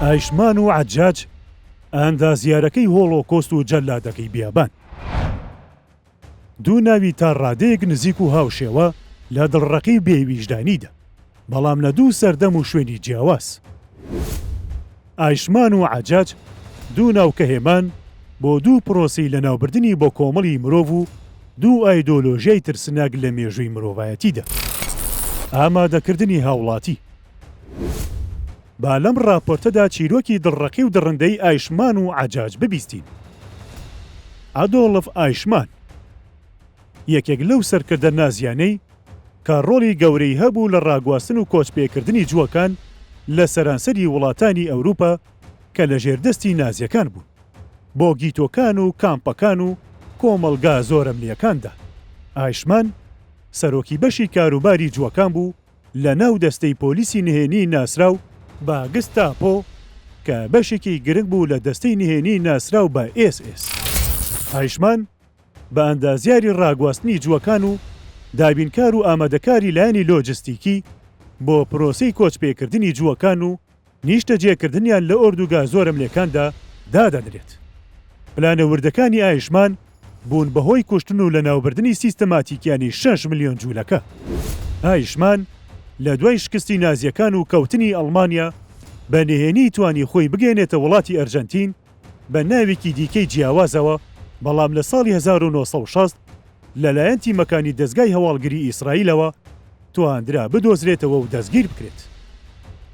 ئایشمان و عەجاج، ئاندازیارەکەی هۆڵۆکۆست و جەلادەکەی بیابان. دوو ناوی تا ڕادەیەک نزیک و هاوشێوە لە دڵڕەقی و بێویژدانیدا، بەڵام لە دوو سەردەم و شوێنی جیاواز. ئایشمان و عەجاج دوو ناو کە هێمان بۆ دوو پرۆسەی لەناوبردنی بۆ کۆمەڵی مرۆڤ و دوو ئایدۆلۆژیای ترسناک لە مێژووی مرۆڤایەتیدا. ئامادەکردنی هاوڵاتی. با لەم ڕاپۆرتەدا چیرۆکی دڵڕەقی و دڕندەی ئایشمان و عەجاج ببیستین. ئادۆڵف ئایشمان یەکێک لەو سەرکردە نازییانەی کە ڕۆڵی گەورەی هەبوو لە ڕاگواستن و کۆچپێکردنی جووەکان لە سەرانسەری وڵاتانی ئەوروپا کە لەژێر دەستی نازییەکان بوون بۆ گیتۆکان و کامپەکان و کۆمەڵگا زۆرەملییەکاندا. ئایشمان سەرۆکی بەشی کاروباری جووەکان بوو، لەناو دەستەی پۆلیسی نهێنی ناسراو بە گستاپۆ کە بەشێکی گرنگ بوو لە دەستەی نهێنی ناسراو بە ئێس ئێس. هایشمان بە ئەندازیاری ڕاگواستنی جووەکان و دابینکار و ئامادەکاری لایەنی لۆجستیکی بۆ پرۆسەی کۆچپێکردنی جووەکان و نیشتەجێکردنیان لە ئۆردوگا زۆرەملێکاندا دادەنرێت. پلانە وردەکانی ئایشمان بوون بە هۆی کوشتن و لەناوبردنی سیستەماتیکیانی شەش ملیۆن جولەکە. ئایشمان لە دوای شکستی نازییەکان و کەوتنی ئەڵمانیا بە نهێنی توانی خۆی بگەیەنێتە وڵاتی ئەرجەنتین، بە ناوێکی دیکەی جیاوازەوە، بەڵام لە ساڵی هەزار و نۆ سەد و شەست لەلایەن تیمەکانی دەزگای هەواڵگری ئیسرائیلەوە توانرا بدۆزرێتەوە و دەستگیر بکرێت.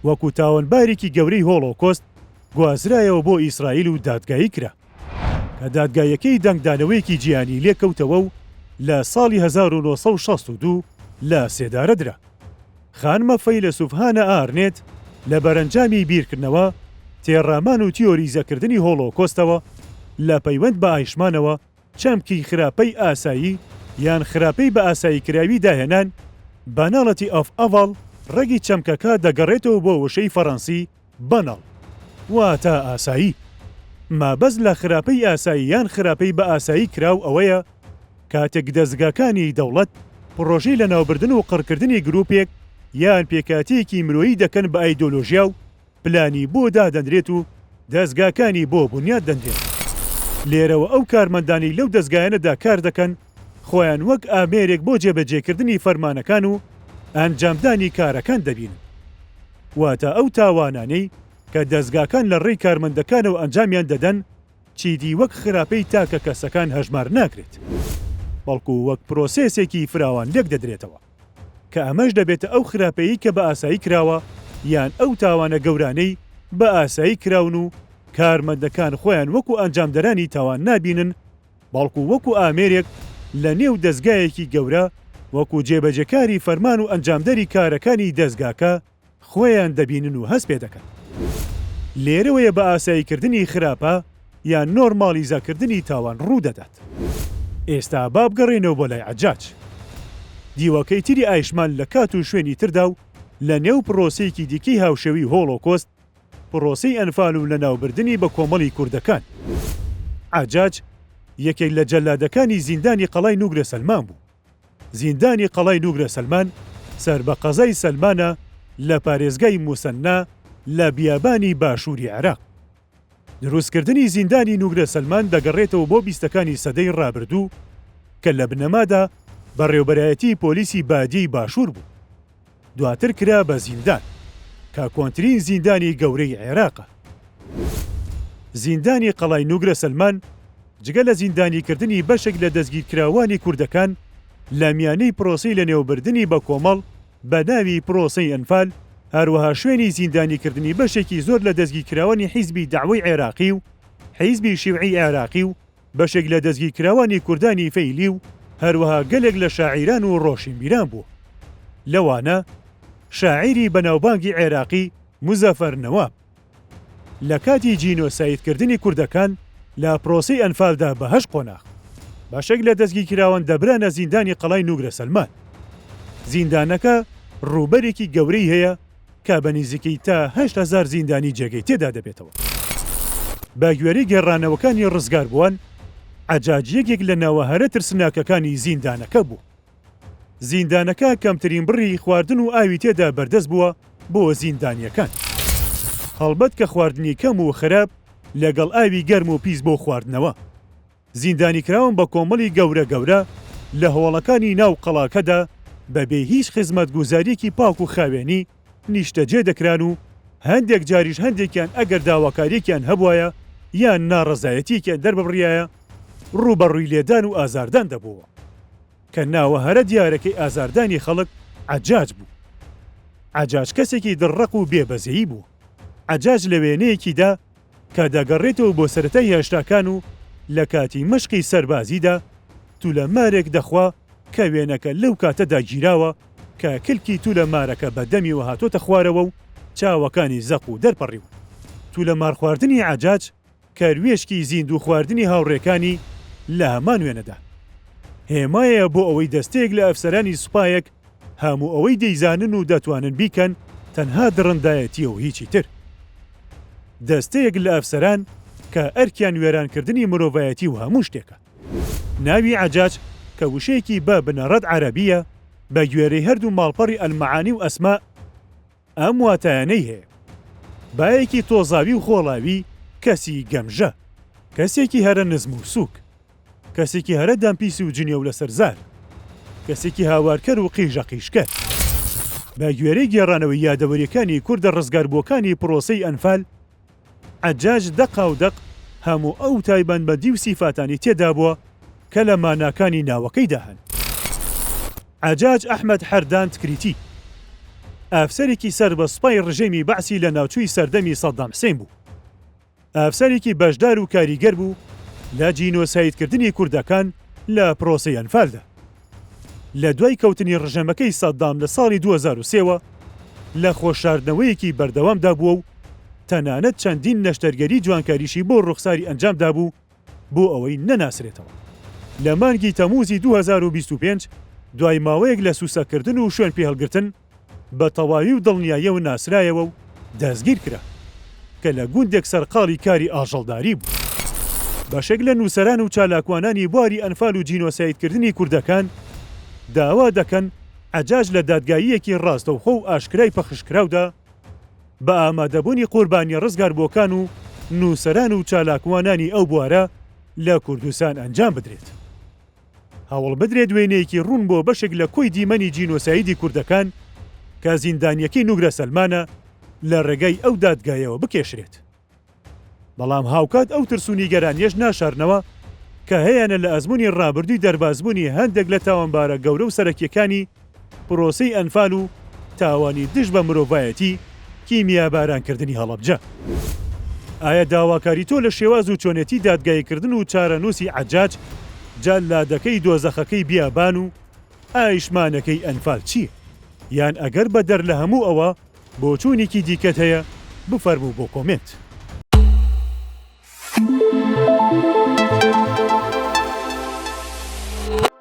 وەکو تاوانبارێکی گەورەی هۆڵۆکۆست گوازرایەوە بۆ ئیسرائیل و دادگایی کرا. کە دادگاییەکەی دەنگدانەوەیەکی جیهانی لێکەوتەوە و لە ساڵی هەزار و نۆ سەد و شەست و دوو لە سێدارە درا. خانمە فەیلەسوف هانا ئارنێت لە بەرەنجامی بیرکردنەوە، تێڕامان و تیۆریزەکردنی هۆڵۆکۆستەوە لە پەیوەند بە ئایشمانەوە، چەمکی خراپەی ئاسایی یان خراپەی بە ئاساییکراوی داهێنان، Banality of Evil، ڕەگی چەمکەکە دەگەڕێتەوە بۆ وشەی فەڕەنسی، بەناڵ واتا ئاسایی. مابەست لە خراپەی ئاسایی یان خراپەی بە ئاسایی کراو ئەوەیە کاتێک دەزگاکانی دەوڵەت پڕۆژەی لەناوبردن و قڕکردنی گروپێک یان پێکهاتەیەکی مرۆیی دەکەن بە ئایدۆلۆژیا و پلانی بۆ دادەنرێت و دەزگاکانی بۆ بونیاد دەنرێن. لێرەوە ئەو کارمەندانەی لەو دەزگایانەدا کاردەکەن، خۆیان وەک ئامێرێک بۆ جێبەجێکردنی فەرمانەکان و ئەنجامدانی کارەکان دەبینن. واتە ئەو تاوانانەی کە دەزگاکان لە ڕێی کارمەندەکانەوە ئەنجامیان دەدەن چیدی وەک خراپەی تاکە کەسەکان هەژمار ناکرێت، بەڵکو وەک پرۆسێسێکی فراوان لێکدەدرێتەوە، کە ئەمەش دەبێتە ئەو خراپەیەی کە بە ئاسایی کراوە یان ئەو تاوانە گەورانەی بە ئاسایی کراون و کارمەندەکان خۆیان وەکو ئەنجامدەرانی تاوان نابینن، بەڵکو وەکو ئامێرێک لە نێو دەزگایەکی گەورە وەکو جێبەجێکاری فەرمان و ئەنجامدەری کارەکانی دەزگاکە خۆیان دەبینن و هەست پێدەکەن. لێرەوەیە بە ئاساییکردنی خراپە یان نۆرماڵیزەکردنی تاوان ڕوودەدات. ئێستا با بگەڕێینەوە بۆ لای عەجاج. دیوەکەی تری ئایشمان لە کات و شوێنی تردا و لە نێو پڕۆسەیەکی دیکەی هاوشێوەی هۆڵۆکۆست، پرۆسەی ئەنفال و لەناوبردنی بەکۆمەڵی کوردەکان. عەجاج یەکێک لە جەلادەکانی زیندانی قەڵای نوگرە سەلمان بوو. زیندانی قەڵای نوگرە سەلمان سەر بە قەزای سەلمانە لە پارێزگای موسەننا لە بیابانی باشووری عێراق. دروستکردنی زیندانی نوگرە سەلمان دەگەڕێتەوە بۆ بیستەکانی سەدەی ڕابردوو کە لە بنەمادا بەڕێوبەرایەتی پۆلیسی بادیەی باشوور بوو. دواتر کرا بە زیندان کە کۆنترین زیندانی گەورەی عێراقە. زیندانی قەڵای نوگرە سەلمان جگە لە زیندانیکردنی بەشێک لە دەستگیرکراوانی کوردەکان لە میانەی پرۆسەی لەنێوبردنی بە کۆمەڵ بە ناوی پرۆسەی ئەنفال، هەروەها شوێنی زیندانیکردنی بەشێکی زۆر لە دەستگیرکراوانی حیزبی دەعوەی عێراقی و حیزبی شیوعی عێراقی و بەشێک لە دەستگیرکراوانی کوردانی فەیلی و هەروەها گەلێک لە شاعیران و ڕۆشنبیران بوو، لەوانە شاعیری بەناوبانگی عێراقی موزەفەر نەواب. لە کاتی جینۆسایدکردنی کوردەکان لە پرۆسەی ئەنفالدا بە هەشت قۆناغ. بەشێک لە دەستگیرکراوان دەبرانە زیندانی قەڵای نوگرە سەلمان. زیندانەکە ڕووبەرێکی گەورەی هەیە کە بە نیزیکەی تا هەشت هەزار زیندانی جێگەی تێدا دەبێتەوە. بە گوێرەی گێڕانەوەکانی ڕزگاربووان، عەجاج یەکێک لە ناوە هەرە ترسناکەکانی زیندانەکە بوو. زیندانەکە کەمترین بڕی خواردن و ئاوی تێدا بەردەست بووە بۆ زیندانییەکان. هەڵبەت کە خواردنی کەم و خراپ لەگەڵ ئاوی گەرم و پیس بۆ خواردنەوە. زیندانیکراون بە کۆمەڵی گەورە گەورە لە هۆڵەکانی ناو قەڵاکەدا بە بێ هیچ خزمەتگوزاریەکی پاک و خاوێنی نیشتەجێ دەکران و هەندێک جاریش هەندێکیان ئەگەر داواکاریەکیان هەبوایە یان ناڕەزایەتیەکیان دەرببڕایە ڕووبەڕووی لێدان و ئازاردان دەبۆوە کە ناوە هەرە دیارەکەی ئازاردانی خەڵک عەجاج بوو. عەجاج کەسێکی دڕڕەق و بێ بەزەیی بوو. عەجاج لە وێنەیەکیدا، کە دەگەڕێتەوە بۆ سەرەتای هێشتاکان و لە کاتی مەشقی سەربازیدا تولە مارێک دەخوا کە وێنەکە لەو کاتەدا گیراوە کە کلکی تولە مارەکە بە دەمیەوە هاتۆتە خوارەوە و چاوەکانی زەق و دەرپەڕیوە تولە مار خواردنی عەجاج کەروێشکی زیندوو خواردنی هاوڕێکانی لە هەمان وێنەدا هێمایە بۆ ئەوەی دەستەیەک لە ئەفسەرانی سوپایەک هەموو ئەوەی دەیزانن و دەتوانن بیکەن تەنها دڕندایەتیە و هیچی تر. دەستەیەک لە ئەفسەران کە ئەرکیان وێرانکردنی مرۆڤایەتی و هەموو شتێکە. ناوی عەجاج کە وشەیەکی بە بنەڕەت عەرەبیە بە گوێرەی هەردوو ماڵپەڕی المعانی و اسماء، ئەم واتایانەی هەیە، بایەکی تۆزاوی و خۆڵاوی کەسی گەمژە، کەسێکی هەرە نزم و سووک، کەسێکی هەرە دەمپیس و جنێو لەسەر زار، کەسێکی هاوارکەر و قیژەقیژکەر. بەگوێرەی گێڕانەوەی یادەوەرییەکانی کوردە ڕزگاربووەکانی پڕۆسەی ئەنفال، عەجاج دەقا و دەق هەموو ئەو تایبەنمەدی و سیفاتانی تێدابووە کە لە ماناکانی ناوەکەیدا هەن. عەجاج ئەحمەد حەردان تکریتی ئەفسەرێکی سەر بە سوپای ڕژێمی بەعسی لە ناوچووی سەردەمی سەدام حسێن بوو. ئەفسەرێکی بەشدار و کاریگەر بوو لە جینۆسایدکردنی کوردەکان لە پرۆسەی ئەنفالدا. لە دوای کەوتنی ڕژێمەکەی سەدام لە ساڵی دوو هەزار و سێ وە، لە خۆشاردنەوەیەکی بەردەوامدا بووە و تەنانەت چەندین نەشتەرگەری جوانکاریشی بۆ ڕوخساری ئەنجام دابوو بۆ ئەوەی نەناسرێتەوە. لە مانگی تەمووزی دوو هەزار و بیست و پێنج دوای ماوەیەک لە سووسەکردن و شوێنپێهەڵگرتن، بە تەواوی و دڵنیایەوە ناسرایەوە و دەستگیر کرا، کە لە گوندێک سەرقاڵی کاری ئاژەڵداری بوو. بەشێک لە نووسەران و چالاکوانانی بواری ئەنفال و جینۆسایدکردنی کوردەکان داوا دەکەن عەجاج لە دادگاییەکی ڕاستەوخۆ و ئاشکرای پەخشکراودا بە ئامادەبوونی قوربانییە ڕزگاربووەکان و نووسەران و چالاکوانانی ئەو بوارە لە کوردستان ئەنجام بدرێت. هەوڵبدرێت وێنەیەکی ڕوون بۆ بەشێک لە کۆی دیمەنی جینۆسایدی کوردەکان کە زیندانییەکەی نوگرە سەلمانە لە ڕێگای ئەو دادگایەوە بکێشرێت. بەڵام هاوکات ئەو ترس و نیگەرانیەش ناشارنەوە کە هەیانە لە ئەزمونی ڕابردووی دەربازبوونی هەندێک لە تاوانبارە گەورە و سەرەکیەکانی پرۆسەی ئەنفال و تاوانی دژ بە مرۆڤایەتی کیمیاباران کردنی هەڵەبجە. ئایا داواکاری تۆ لە شێواز و چۆنێتی دادگایی کردن و چارەنووسی عەجاج، جەلادەکەی دۆزەخەکەی بیابان و ئایشمانەکەی ئەنفال چییە؟ یان ئەگەر بەدەر لە هەموو ئەوە بۆچوونیکی دیکەت هەیە بفەرموو بۆ کۆمێنت.